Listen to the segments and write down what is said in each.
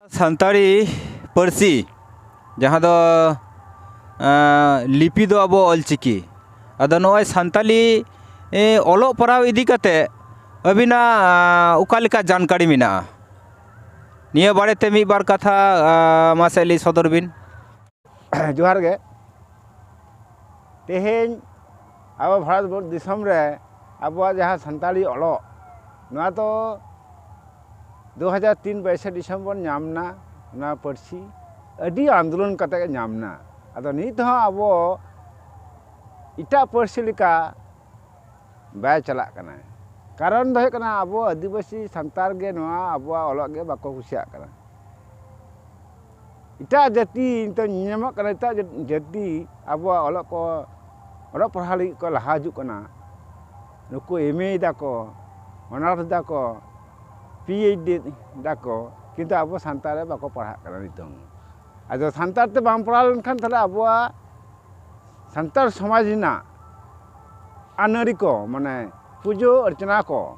ᱥᱟᱱᱛᱟᱲᱤ ᱯᱟᱹᱨᱥᱤ ᱡᱟᱦᱟᱸ ᱫᱚ ᱞᱤᱯᱤ ᱫᱚ ᱟᱵᱚ ᱚᱞ ᱪᱤᱠᱤ ᱟᱫᱚ ᱱᱚᱜᱼᱚᱭ ᱥᱟᱱᱛᱟᱲᱤ ᱚᱞᱚᱜ ᱯᱟᱲᱦᱟᱣ ᱤᱫᱤ ᱠᱟᱛᱮᱫ ᱟᱹᱵᱤᱱᱟᱜ ᱚᱠᱟ ᱞᱮᱠᱟ ᱡᱟᱱᱠᱟᱨᱤ ᱢᱮᱱᱟᱜᱼᱟ ᱱᱤᱭᱟᱹ ᱵᱟᱨᱮᱛᱮ ᱢᱤᱫ ᱵᱟᱨ ᱠᱟᱛᱷᱟ ᱢᱟᱥᱮ ᱞᱟᱹᱭ ᱥᱚᱫᱚᱨ ᱵᱤᱱ ᱡᱚᱦᱟᱨ ᱜᱮ ᱛᱮᱦᱮᱧ ᱟᱵᱚ ᱵᱷᱟᱨᱚᱛ ᱫᱤᱥᱚᱢ ᱨᱮ ᱟᱵᱚᱣᱟᱜ ᱡᱟᱦᱟᱸ ᱥᱟᱱᱛᱟᱲᱤ ᱚᱞᱚᱜ ᱱᱚᱣᱟ ᱫᱚ ᱫᱩ ᱦᱟᱡᱟᱨ ᱛᱤᱱ ᱵᱟᱭᱤᱥᱮ ᱰᱤᱥᱮᱢᱵᱚᱨ ᱧᱟᱢ ᱮᱱᱟ ᱱᱚᱣᱟ ᱯᱟᱹᱨᱥᱤ ᱟᱹᱰᱤ ᱟᱱᱫᱳᱞᱚᱱ ᱠᱟᱛᱮ ᱜᱮ ᱧᱟᱢ ᱮᱱᱟ ᱟᱫᱚ ᱱᱤᱛ ᱦᱚᱸ ᱟᱵᱚ ᱮᱴᱟᱜ ᱯᱟᱹᱨᱥᱤ ᱞᱮᱠᱟ ᱵᱟᱭ ᱪᱟᱞᱟᱜ ᱠᱟᱱᱟ ᱠᱟᱨᱚᱱ ᱫᱚ ᱦᱩᱭᱩᱜ ᱠᱟᱱᱟ ᱟᱵᱚ ᱟᱹᱫᱤᱵᱟᱹᱥᱤ ᱥᱟᱱᱛᱟᱲ ᱜᱮ ᱱᱚᱣᱟ ᱟᱵᱚᱣᱟᱜ ᱚᱞᱚᱜ ᱜᱮ ᱵᱟᱠᱚ ᱠᱩᱥᱤᱭᱟᱜ ᱠᱟᱱᱟ ᱮᱴᱟᱜ ᱡᱟᱹᱛᱤ ᱱᱤᱛᱚᱜ ᱧᱮᱞ ᱧᱟᱢᱚᱜ ᱠᱟᱱᱟ ᱮᱴᱟᱜ ᱡᱟᱹᱛᱤ ᱟᱵᱚᱣᱟᱜ ᱚᱞᱚᱜ ᱠᱚ ᱚᱞᱚᱜ ᱯᱟᱲᱦᱟᱣ ᱞᱟᱹᱜᱤᱫ ᱠᱚ ᱞᱟᱦᱟ ᱦᱤᱡᱩᱜ ᱠᱟᱱᱟ ᱱᱩᱠᱩ ᱮᱢ ᱮ ᱫᱟᱠᱚ ᱚᱱᱟᱨᱥ ᱫᱟᱠᱚ ᱯᱤ ᱮᱭᱤᱪ ᱰᱤ ᱫᱟᱠᱚ ᱠᱤᱱᱛᱩ ᱟᱵᱚ ᱥᱟᱱᱛᱟᱲ ᱨᱮ ᱵᱟᱠᱚ ᱯᱟᱲᱦᱟᱜ ᱠᱟᱱᱟ ᱱᱤᱛᱚᱝ ᱟᱫᱚ ᱥᱟᱱᱛᱟᱲ ᱛᱮ ᱵᱟᱢ ᱯᱟᱲᱦᱟᱣ ᱞᱮᱱᱠᱷᱟᱱ ᱛᱟᱦᱚᱞᱮ ᱟᱵᱚᱣᱟᱜ ᱥᱟᱱᱛᱟᱲ ᱥᱚᱢᱟᱡᱽ ᱨᱮᱱᱟᱜ ᱟᱹᱱᱟᱹᱨᱤ ᱠᱚ ᱢᱟᱱᱮ ᱯᱩᱡᱟᱹ ᱚᱨᱪᱚᱱᱟ ᱠᱚ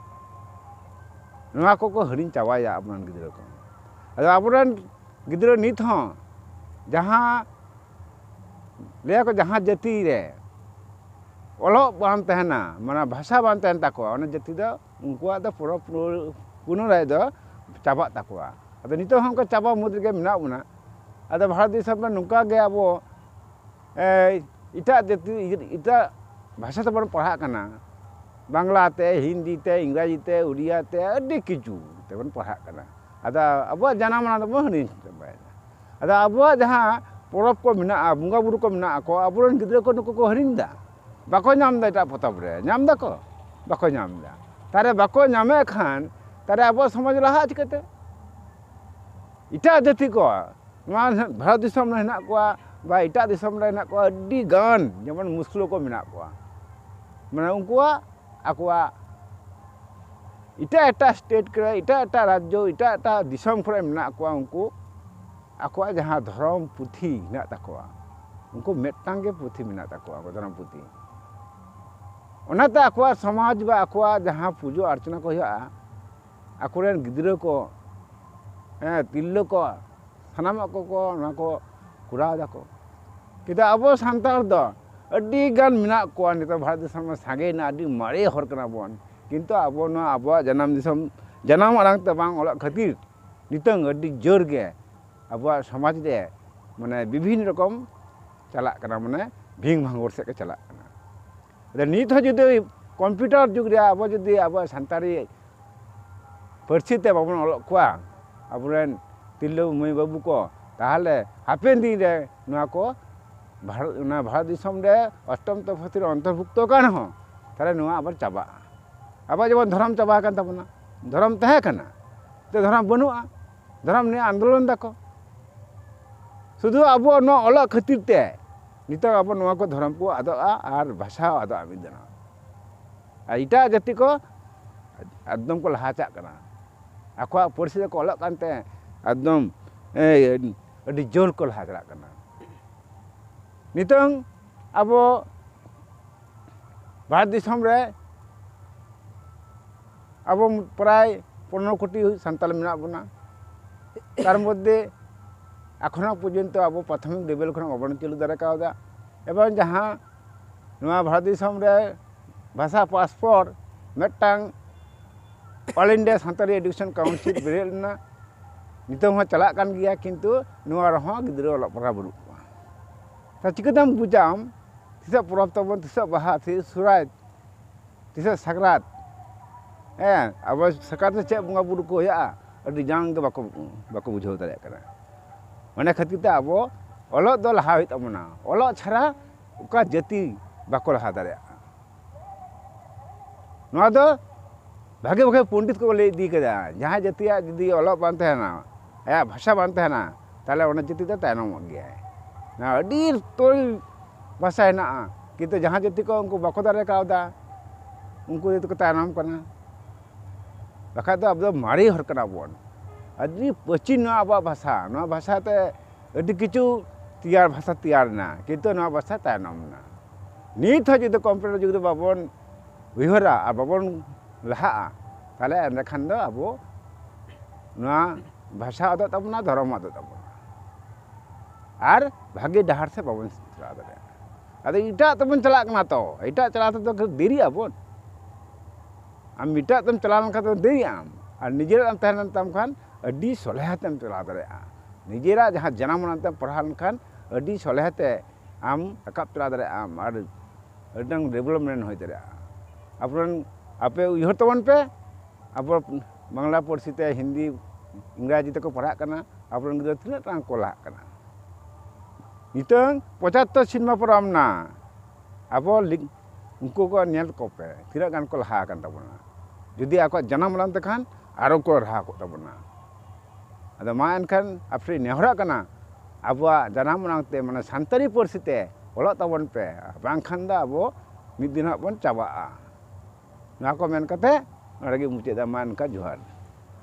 ᱱᱚᱣᱟ ᱠᱚᱠᱚ ᱦᱤᱲᱤᱧ ᱪᱟᱵᱟᱭᱮᱫᱟ ᱟᱵᱚ ᱨᱮᱱ ᱜᱤᱫᱽᱨᱟᱹ ᱠᱚ ᱟᱫᱚ ᱟᱵᱚ ᱨᱮᱱ ᱜᱤᱫᱽᱨᱟᱹ ᱱᱤᱛ ᱦᱚᱸ ᱡᱟᱦᱟᱸ ᱞᱟᱹᱭ ᱟᱠᱚ ᱡᱟᱦᱟᱸ ᱡᱟᱹᱛᱤ ᱨᱮ ᱚᱞᱚᱜ ᱵᱟᱝ ᱛᱟᱦᱮᱱᱟ ᱢᱟᱱᱮ ᱵᱷᱟᱥᱟ ᱵᱟᱝ ᱛᱟᱦᱮᱱ ᱛᱟᱠᱚᱣᱟ ᱚᱱᱟ ᱡᱟᱹᱛᱤ ᱫᱚ ᱩᱱᱠᱩᱣᱟᱜ ᱫᱚ ᱯᱩᱨᱟᱹ ᱯᱩᱱᱚᱨᱟᱭ ᱫᱚ ᱪᱟᱵᱟᱜ ᱛᱟᱠᱚᱣᱟ ᱟᱫᱚ ᱱᱤᱛᱚᱜ ᱦᱚᱸ ᱚᱱᱠᱟ ᱪᱟᱵᱟ ᱢᱩᱫᱽ ᱨᱮᱜᱮ ᱢᱮᱱᱟᱜ ᱵᱚᱱᱟ ᱟᱫᱚ ᱵᱷᱟᱨᱚᱛ ᱫᱤᱥᱚᱢ ᱨᱮ ᱱᱚᱝᱠᱟ ᱜᱮ ᱟᱵᱚ ᱮᱴᱟᱜ ᱡᱟᱹᱛᱤ ᱮᱴᱟᱜ ᱵᱷᱟᱥᱟ ᱛᱮᱵᱚᱱ ᱯᱟᱲᱦᱟᱜ ᱠᱟᱱᱟ ᱵᱟᱝᱞᱟ ᱛᱮ ᱦᱤᱱᱫᱤ ᱛᱮ ᱤᱝᱨᱟᱡᱤ ᱛᱮ ᱩᱲᱤᱭᱟ ᱛᱮ ᱟᱹᱰᱤ ᱠᱤᱪᱷᱩ ᱛᱮᱵᱚᱱ ᱯᱟᱲᱦᱟᱜ ᱠᱟᱱᱟ ᱟᱫᱚ ᱟᱵᱚᱣᱟᱜ ᱡᱟᱱᱟᱢ ᱟᱲᱟᱝ ᱫᱚᱵᱚᱱ ᱦᱤᱲᱤᱧ ᱪᱟᱵᱟᱭᱮᱫᱟ ᱟᱫᱚ ᱟᱵᱚᱣᱟᱜ ᱡᱟᱦᱟᱸ ᱯᱚᱨᱚᱵᱽ ᱠᱚ ᱢᱮᱱᱟᱜᱼᱟ ᱵᱚᱸᱜᱟ ᱵᱳᱨᱳ ᱠᱚ ᱢᱮᱱᱟᱜ ᱠᱚᱣᱟ ᱟᱵᱚ ᱨᱮᱱ ᱜᱤᱫᱽᱨᱟᱹ ᱠᱚ ᱱᱩᱠᱩ ᱠᱚ ᱦᱤᱲᱤᱧ ᱮᱫᱟ ᱵᱟᱠᱚ ᱧᱟᱢ ᱮᱫᱟ ᱮᱴᱟᱜ ᱯᱚᱛᱚᱵ ᱨᱮ ᱧᱟᱢ ᱫᱟᱠᱚ ᱵᱟᱠᱚ ᱧᱟᱢ ᱮᱫᱟ ᱛᱟᱦᱚᱞᱮ ᱵᱟᱠᱚ ᱧᱟᱢᱮᱫ ᱠᱷᱟᱱ ᱛᱟᱦᱚᱞᱮ ᱟᱵᱚᱣᱟᱜ ᱥᱚᱢᱟᱡᱽ ᱞᱟᱦᱟᱜᱼᱟ ᱪᱤᱠᱟᱹᱛᱮ ᱮᱴᱟᱜ ᱡᱟᱹᱛᱤ ᱠᱚᱣᱟᱜ ᱱᱚᱣᱟ ᱵᱷᱟᱨᱚᱛ ᱫᱤᱥᱚᱢ ᱨᱮ ᱦᱮᱱᱟᱜ ᱠᱚᱣᱟ ᱵᱟ ᱮᱴᱟᱜ ᱫᱤᱥᱚᱢ ᱨᱮ ᱦᱮᱱᱟᱜ ᱠᱚᱣᱟ ᱟᱹᱰᱤ ᱜᱟᱱ ᱡᱮᱢᱚᱱ ᱢᱩᱥᱞᱟᱹ ᱠᱚ ᱢᱮᱱᱟᱜ ᱠᱚᱣᱟ ᱢᱟᱱᱮ ᱩᱱᱠᱩᱣᱟᱜ ᱟᱠᱚᱣᱟᱜ ᱮᱴᱟᱜ ᱮᱴᱟᱜ ᱥᱴᱮᱴ ᱠᱚᱨᱮ ᱮᱴᱟᱜ ᱮᱴᱟᱜ ᱨᱟᱡᱽᱡᱚ ᱮᱴᱟᱜ ᱮᱴᱟᱜ ᱫᱤᱥᱚᱢ ᱠᱚᱨᱮ ᱢᱮᱱᱟᱜ ᱠᱚᱣᱟ ᱩᱱᱠᱩ ᱟᱠᱚᱣᱟᱜ ᱡᱟᱦᱟᱸ ᱫᱷᱚᱨᱚᱢ ᱯᱩᱛᱷᱤ ᱦᱮᱱᱟᱜ ᱛᱟᱠᱚᱣᱟ ᱩᱱᱠᱩ ᱢᱤᱫᱴᱟᱝ ᱜᱮ ᱯᱩᱛᱷᱤ ᱢᱮᱱᱟᱜ ᱛᱟᱠᱚᱣᱟ ᱫᱷᱚᱨᱚᱢ ᱯᱩᱛᱷᱤ ᱚᱱᱟᱛᱮ ᱟᱠᱚᱣᱟᱜ ᱥᱚᱢᱟᱡᱽ ᱵᱟ ᱟᱠᱚᱣᱟᱜ ᱡᱟᱦᱟᱸ ᱯᱩᱡᱟᱹ ᱟᱨᱪᱚᱱᱟ ᱠᱚ ᱦᱩᱭᱩᱜᱼᱟ ᱟᱠᱚ ᱨᱮᱱ ᱜᱤᱫᱽᱨᱟᱹ ᱠᱚ ᱦᱮᱸ ᱛᱤᱨᱞᱟᱹ ᱠᱚ ᱥᱟᱱᱟᱢᱟᱜ ᱠᱚᱠᱚ ᱚᱱᱟ ᱠᱚ ᱠᱚᱨᱟᱣ ᱫᱟᱠᱚ ᱠᱤᱱᱛᱩ ᱟᱵᱚ ᱥᱟᱱᱛᱟᱲ ᱫᱚ ᱟᱹᱰᱤ ᱜᱟᱱ ᱢᱮᱱᱟᱜ ᱠᱚᱣᱟ ᱱᱤᱛᱚᱜ ᱵᱷᱟᱨᱚᱛ ᱫᱤᱥᱚᱢ ᱨᱮ ᱥᱟᱸᱜᱮᱭᱮᱱᱟ ᱟᱹᱰᱤ ᱢᱟᱨᱮ ᱦᱚᱲ ᱠᱟᱱᱟ ᱵᱚᱱ ᱠᱤᱱᱛᱩ ᱟᱵᱚ ᱱᱚᱣᱟ ᱟᱵᱚᱣᱟᱜ ᱡᱟᱱᱟᱢ ᱫᱤᱥᱚᱢ ᱡᱟᱱᱟᱢ ᱟᱲᱟᱝ ᱛᱮ ᱵᱟᱝ ᱚᱞᱚᱜ ᱠᱷᱟᱹᱛᱤᱨ ᱱᱤᱛᱚᱝ ᱟᱹᱰᱤ ᱡᱳᱨ ᱜᱮ ᱟᱵᱚᱣᱟᱜ ᱥᱚᱢᱟᱡᱽ ᱨᱮ ᱢᱟᱱᱮ ᱵᱤᱵᱷᱤᱱᱱᱚ ᱨᱚᱠᱚᱢ ᱪᱟᱞᱟᱜ ᱠᱟᱱᱟ ᱢᱟᱱᱮ ᱵᱷᱤᱱ ᱵᱷᱟᱝᱜᱚᱲ ᱥᱮᱫ ᱜᱮ ᱪᱟᱞᱟᱜ ᱠᱟᱱᱟ ᱱᱤᱛ ᱦᱚᱸ ᱡᱩᱫᱤ ᱠᱚᱢᱯᱤᱭᱩᱴᱟᱨ ᱡᱩᱜᱽ ᱨᱮ ᱟᱵᱚ ᱡᱩᱫᱤ ᱟᱵᱚᱣᱟᱜ ᱥᱟᱱᱛᱟᱲᱤ ᱯᱟᱹᱨᱥᱤ ᱛᱮ ᱵᱟᱵᱚᱱ ᱚᱞᱚᱜ ᱠᱚᱣᱟ ᱟᱵᱚᱨᱮᱱ ᱛᱤᱨᱞᱟᱹ ᱢᱟᱹᱭ ᱵᱟᱹᱵᱩ ᱠᱚ ᱛᱟᱦᱚᱞᱮ ᱦᱟᱯᱮᱱ ᱫᱤᱱ ᱨᱮ ᱱᱚᱣᱟ ᱠᱚ ᱵᱷᱟᱨᱚᱛ ᱚᱱᱟ ᱵᱷᱟᱨᱚᱛ ᱫᱤᱥᱚᱢ ᱨᱮ ᱚᱥᱴᱚᱢ ᱛᱚᱯᱷᱟᱛ ᱨᱮ ᱚᱱᱛᱚᱨᱵᱷᱩᱠᱛᱚ ᱠᱟᱱ ᱨᱮᱦᱚᱸ ᱛᱟᱦᱚᱞᱮ ᱱᱚᱣᱟ ᱟᱵᱟᱨ ᱪᱟᱵᱟᱜᱼᱟ ᱟᱵᱚᱣᱟᱜ ᱡᱮᱢᱚᱱ ᱫᱷᱚᱨᱚᱢ ᱪᱟᱵᱟ ᱟᱠᱟᱱ ᱛᱟᱵᱚᱱᱟ ᱫᱷᱚᱨᱚᱢ ᱛᱟᱦᱮᱸ ᱠᱟᱱᱟ ᱛᱚ ᱫᱷᱚᱨᱚᱢ ᱵᱟᱹᱱᱩᱜᱼᱟ ᱫᱷᱚᱨᱚᱢ ᱱᱤᱭᱮ ᱟᱱᱫᱳᱞᱚᱱ ᱫᱟᱠᱚ ᱥᱩᱫᱷᱩ ᱟᱵᱚᱣᱟᱜ ᱱᱚᱣᱟ ᱚᱞᱚᱜ ᱠᱷᱟᱹᱛᱤᱨ ᱛᱮ ᱱᱤᱛᱚᱜ ᱟᱵᱚ ᱱᱚᱣᱟ ᱠᱚ ᱫᱷᱚᱨᱚᱢ ᱠᱚ ᱟᱫᱚᱜᱼᱟ ᱟᱨ ᱵᱷᱟᱥᱟ ᱦᱚᱸ ᱟᱫᱚᱜᱼᱟ ᱢᱤᱫ ᱫᱤᱱᱚᱜ ᱟᱨ ᱮᱴᱟᱜ ᱡᱟᱹᱛᱤ ᱠᱚ ᱮᱠᱫᱚᱢ ᱠᱚ ᱞᱟᱦᱟ ᱪᱟᱜ ᱠᱟᱱᱟ ᱟᱠᱚᱣᱟᱜ ᱯᱟᱹᱨᱥᱤ ᱛᱮᱠᱚ ᱚᱞᱚᱜ ᱠᱟᱱᱛᱮ ᱮᱠᱫᱚᱢ ᱟᱹᱰᱤ ᱡᱳᱨ ᱠᱚ ᱞᱟᱦᱟ ᱪᱟᱞᱟᱜ ᱠᱟᱱᱟ ᱱᱤᱛᱚᱝ ᱟᱵᱚ ᱵᱷᱟᱨᱚᱛ ᱫᱤᱥᱚᱢ ᱨᱮ ᱟᱵᱚ ᱯᱨᱟᱭ ᱯᱚᱱᱨᱚ ᱠᱳᱴᱤ ᱥᱟᱱᱛᱟᱲ ᱢᱮᱱᱟᱜ ᱵᱚᱱᱟ ᱛᱟᱨ ᱢᱚᱫᱽᱫᱷᱮ ᱮᱠᱷᱚᱱᱳ ᱯᱚᱨᱡᱚᱱᱛᱚ ᱟᱵᱚ ᱯᱨᱟᱛᱷᱚᱢᱤᱠ ᱞᱮᱵᱮᱞ ᱠᱷᱚᱱᱟᱜ ᱵᱟᱵᱚᱱ ᱪᱟᱹᱞᱩ ᱫᱟᱲᱮ ᱠᱟᱣᱫᱟ ᱮᱵᱚᱝ ᱡᱟᱦᱟᱸ ᱱᱚᱣᱟ ᱵᱷᱟᱨᱚᱛ ᱫᱤᱥᱚᱢ ᱨᱮ ᱵᱷᱟᱥᱟ ᱯᱟᱥ ᱯᱚᱨ ᱢᱤᱫᱴᱟᱝ All India Santali Education Council ᱵᱮᱨᱮᱫ ᱞᱮᱱᱟ ᱱᱤᱛᱚᱝ ᱦᱚᱸ ᱪᱟᱞᱟᱜ ᱠᱟᱱ ᱜᱮᱭᱟ ᱠᱤᱱᱛᱩ ᱱᱚᱣᱟ ᱨᱮᱦᱚᱸ ᱜᱤᱫᱽᱨᱟᱹ ᱚᱞᱚᱜ ᱯᱟᱲᱦᱟᱜ ᱵᱟᱹᱱᱩᱜ ᱠᱚᱣᱟ ᱛᱟᱦᱚᱞᱮ ᱪᱤᱠᱟᱹᱛᱮᱢ ᱵᱩᱡᱟ ᱟᱢ ᱛᱤᱥᱚᱜ ᱯᱚᱨᱚᱵᱽ ᱛᱟᱵᱚᱱ ᱛᱤᱥᱚᱜ ᱵᱟᱦᱟ ᱛᱤᱥᱚᱜ ᱥᱚᱦᱨᱟᱭ ᱛᱤᱥᱚᱜ ᱥᱟᱠᱨᱟᱛ ᱦᱮᱸ ᱟᱵᱚ ᱥᱟᱠᱨᱟᱛ ᱨᱮ ᱪᱮᱫ ᱵᱚᱸᱜᱟ ᱵᱩᱨᱩ ᱠᱚ ᱦᱩᱭᱩᱜᱼᱟ ᱟᱹᱰᱤ ᱡᱟᱝ ᱜᱮ ᱵᱟᱠᱚ ᱵᱟᱠᱚ ᱵᱩᱡᱷᱟᱹᱣ ᱫᱟᱲᱮᱭᱟᱜ ᱠᱟᱱᱟ ᱚᱱᱟ ᱠᱷᱟᱹᱛᱤᱨ ᱛᱮ ᱟᱵᱚ ᱚᱞᱚᱜ ᱫᱚ ᱞᱟᱦᱟ ᱦᱩᱭᱩᱜ ᱛᱟᱵᱚᱱᱟ ᱚᱞᱚᱜ ᱪᱷᱟᱲᱟ ᱚᱠᱟ ᱡᱟᱹᱛᱤ ᱵᱟᱠᱚ ᱞᱟᱦᱟ ᱫᱟᱲᱮᱭᱟᱜᱼᱟ ᱱᱚᱣᱟ ᱫᱚ ᱵᱷᱟᱜᱮ ᱵᱷᱟᱜᱮ ᱯᱚᱱᱰᱤᱛ ᱠᱚ ᱞᱟᱹᱭ ᱤᱫᱤ ᱠᱟᱫᱟ ᱡᱟᱦᱟᱸᱭ ᱡᱟᱹᱛᱤᱭᱟᱜ ᱡᱩᱫᱤ ᱚᱞᱚᱜ ᱵᱟᱝ ᱛᱟᱦᱮᱱᱟ ᱟᱭᱟᱜ ᱵᱷᱟᱥᱟ ᱵᱟᱝ ᱛᱟᱦᱮᱱᱟ ᱛᱟᱦᱚᱞᱮ ᱚᱱᱟ ᱡᱟᱹᱛᱤ ᱫᱚ ᱛᱟᱭᱱᱚᱢᱚᱜ ᱜᱮᱭᱟᱭ ᱟᱹᱰᱤ ᱩᱛᱟᱹᱨ ᱵᱷᱟᱥᱟ ᱦᱮᱱᱟᱜᱼᱟ ᱠᱤᱱᱛᱩ ᱡᱟᱦᱟᱸ ᱡᱟᱹᱛᱤ ᱠᱚ ᱩᱱᱠᱩ ᱵᱟᱠᱚ ᱫᱟᱲᱮ ᱠᱟᱣᱫᱟ ᱩᱱᱠᱩ ᱜᱮᱛᱚ ᱠᱚ ᱛᱟᱭᱱᱚᱢ ᱠᱟᱱᱟ ᱵᱟᱠᱷᱟᱡ ᱫᱚ ᱟᱵᱚ ᱫᱚ ᱢᱟᱨᱮ ᱦᱚᱲ ᱠᱟᱱᱟ ᱵᱚᱱ ᱟᱹᱰᱤ ᱯᱨᱟᱪᱤᱱ ᱱᱚᱣᱟ ᱟᱵᱚᱣᱟᱜ ᱵᱷᱟᱥᱟ ᱱᱚᱣᱟ ᱵᱷᱟᱥᱟ ᱛᱮ ᱟᱹᱰᱤ ᱠᱤᱪᱷᱩ ᱛᱮᱭᱟᱨ ᱵᱷᱟᱥᱟ ᱛᱮᱭᱟᱨ ᱮᱱᱟ ᱠᱤᱱᱛᱩ ᱱᱚᱣᱟ ᱵᱷᱟᱥᱟ ᱛᱟᱭᱱᱚᱢ ᱮᱱᱟ ᱱᱤᱛ ᱦᱚᱸ ᱡᱩᱫᱤ ᱠᱚᱢᱯᱤᱭᱩᱴᱟᱨ ᱡᱩᱜᱽ ᱨᱮ ᱵᱟᱵᱚᱱ ᱩᱭᱦᱟᱹᱨᱟ ᱟᱨ ᱵᱟᱵᱚᱱ ᱞᱟᱦᱟᱜᱼᱟ ᱛᱟᱦᱚᱞᱮ ᱮᱸᱰᱮ ᱠᱷᱟᱱ ᱫᱚ ᱟᱵᱚ ᱱᱚᱣᱟ ᱵᱷᱟᱥᱟ ᱟᱫᱚᱜ ᱛᱟᱵᱚᱱᱟ ᱫᱷᱚᱨᱚᱢ ᱟᱫᱚᱜ ᱛᱟᱵᱚᱱᱟ ᱟᱨ ᱵᱷᱟᱜᱮ ᱰᱟᱦᱟᱨ ᱥᱮᱫ ᱵᱟᱵᱚᱱ ᱪᱟᱞᱟᱣ ᱫᱟᱲᱮᱭᱟᱜᱼᱟ ᱟᱫᱚ ᱮᱴᱟᱜ ᱛᱮᱵᱚᱱ ᱪᱟᱞᱟᱜ ᱠᱟᱱᱟ ᱛᱚ ᱮᱴᱟᱜ ᱪᱟᱞᱟᱣ ᱛᱮᱫᱚ ᱫᱮᱨᱤᱜ ᱟᱵᱚᱱ ᱟᱢ ᱮᱴᱟᱜ ᱛᱮᱢ ᱪᱟᱞᱟᱣ ᱞᱮᱱᱠᱷᱟᱱ ᱫᱚ ᱫᱮᱨᱤᱜ ᱟᱢ ᱟᱨ ᱱᱤᱡᱮᱨᱟᱜ ᱮᱢ ᱛᱟᱦᱮᱸ ᱞᱮᱱ ᱛᱟᱢ ᱠᱷᱟᱱ ᱟᱹᱰᱤ ᱥᱚᱞᱦᱮ ᱛᱮᱢ ᱪᱟᱞᱟᱣ ᱫᱟᱲᱮᱭᱟᱜᱼᱟ ᱱᱤᱡᱮᱨᱟᱜ ᱡᱟᱦᱟᱸ ᱡᱟᱱᱟᱢ ᱟᱲᱟᱝ ᱛᱮᱢ ᱯᱟᱲᱦᱟᱣ ᱞᱮᱱᱠᱷᱟᱱ ᱟᱹᱰᱤ ᱥᱚᱞᱦᱮ ᱛᱮ ᱟᱢ ᱨᱟᱠᱟᱵ ᱪᱟᱞᱟᱣ ᱫᱟᱲᱮᱭᱟᱜ ᱟᱢ ᱟᱨ ᱟᱹᱰᱤᱴᱟᱝ ᱰᱮᱵᱷᱞᱚᱯᱢᱮᱱᱴ ᱦᱩᱭ ᱫᱟᱲᱮᱭᱟᱜᱼᱟ ᱟᱵᱚᱨᱮᱱ ᱟᱯᱮ ᱩᱭᱦᱟᱹᱨ ᱛᱟᱵᱚᱱ ᱯᱮ ᱟᱵᱚ ᱵᱟᱝᱞᱟ ᱯᱟᱹᱨᱥᱤ ᱛᱮ ᱦᱤᱱᱫᱤ ᱤᱝᱨᱟᱡᱤ ᱛᱮᱠᱚ ᱯᱟᱲᱦᱟᱜ ᱠᱟᱱᱟ ᱟᱵᱚᱨᱮᱱ ᱜᱤᱫᱽᱨᱟᱹ ᱛᱤᱱᱟᱹᱜ ᱴᱟᱝ ᱠᱚ ᱞᱟᱦᱟᱜ ᱠᱟᱱᱟ ᱱᱤᱛᱚᱝ ᱯᱚᱪᱟᱛᱛᱚᱨ ᱥᱮᱨᱢᱟ ᱯᱟᱨᱚᱢ ᱱᱟ ᱟᱵᱚ ᱩᱱᱠᱩ ᱠᱚ ᱧᱮᱞ ᱠᱚᱯᱮ ᱛᱤᱱᱟᱹᱜ ᱜᱟᱱ ᱠᱚ ᱞᱟᱦᱟ ᱟᱠᱟᱱ ᱛᱟᱵᱚᱱᱟ ᱡᱩᱫᱤ ᱟᱠᱚᱣᱟᱜ ᱡᱟᱱᱟᱢ ᱟᱲᱟᱝ ᱛᱮᱠᱷᱟᱱ ᱟᱨᱚ ᱠᱚ ᱞᱟᱦᱟ ᱠᱚᱜ ᱛᱟᱵᱚᱱᱟ ᱟᱫᱚ ᱢᱟ ᱮᱱᱠᱷᱟᱱ ᱟᱯᱮ ᱴᱷᱮᱱ ᱱᱮᱦᱚᱨᱚᱜ ᱠᱟᱱᱟ ᱟᱵᱚᱣᱟᱜ ᱡᱟᱱᱟᱢ ᱟᱲᱟᱝ ᱛᱮ ᱢᱟᱱᱮ ᱥᱟᱱᱛᱟᱲᱤ ᱯᱟᱹᱨᱥᱤ ᱛᱮ ᱚᱞᱚᱜ ᱛᱟᱵᱚᱱ ᱯᱮ ᱵᱟᱝᱠᱷᱟᱱ ᱫᱚ ᱟᱵᱚ ᱢᱤᱫ ᱫᱤᱱ ᱦᱟᱸᱜ ᱵᱚᱱ ᱪᱟᱵᱟᱜᱼᱟ ᱱᱚᱣᱟ ᱠᱚ ᱢᱮᱱ ᱠᱟᱛᱮ ᱱᱚᱰᱮ ᱜᱮᱧ ᱢᱩᱪᱟᱹᱫ ᱮᱫᱟ ᱢᱟ ᱮᱱᱠᱷᱟᱱ ᱡᱚᱦᱟᱨ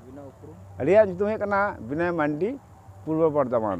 ᱟᱹᱵᱤᱱᱟᱜ ᱩᱯᱨᱩᱢ ᱟᱹᱞᱤᱧᱟᱜ ᱧᱩᱛᱩᱢ ᱦᱩᱭᱩᱜ ᱠᱟᱱᱟ ᱵᱤᱱᱚᱭ ᱢᱟᱱᱰᱤ ᱯᱩᱨᱵᱚ ᱵᱚᱨᱫᱷᱚᱢᱟᱱ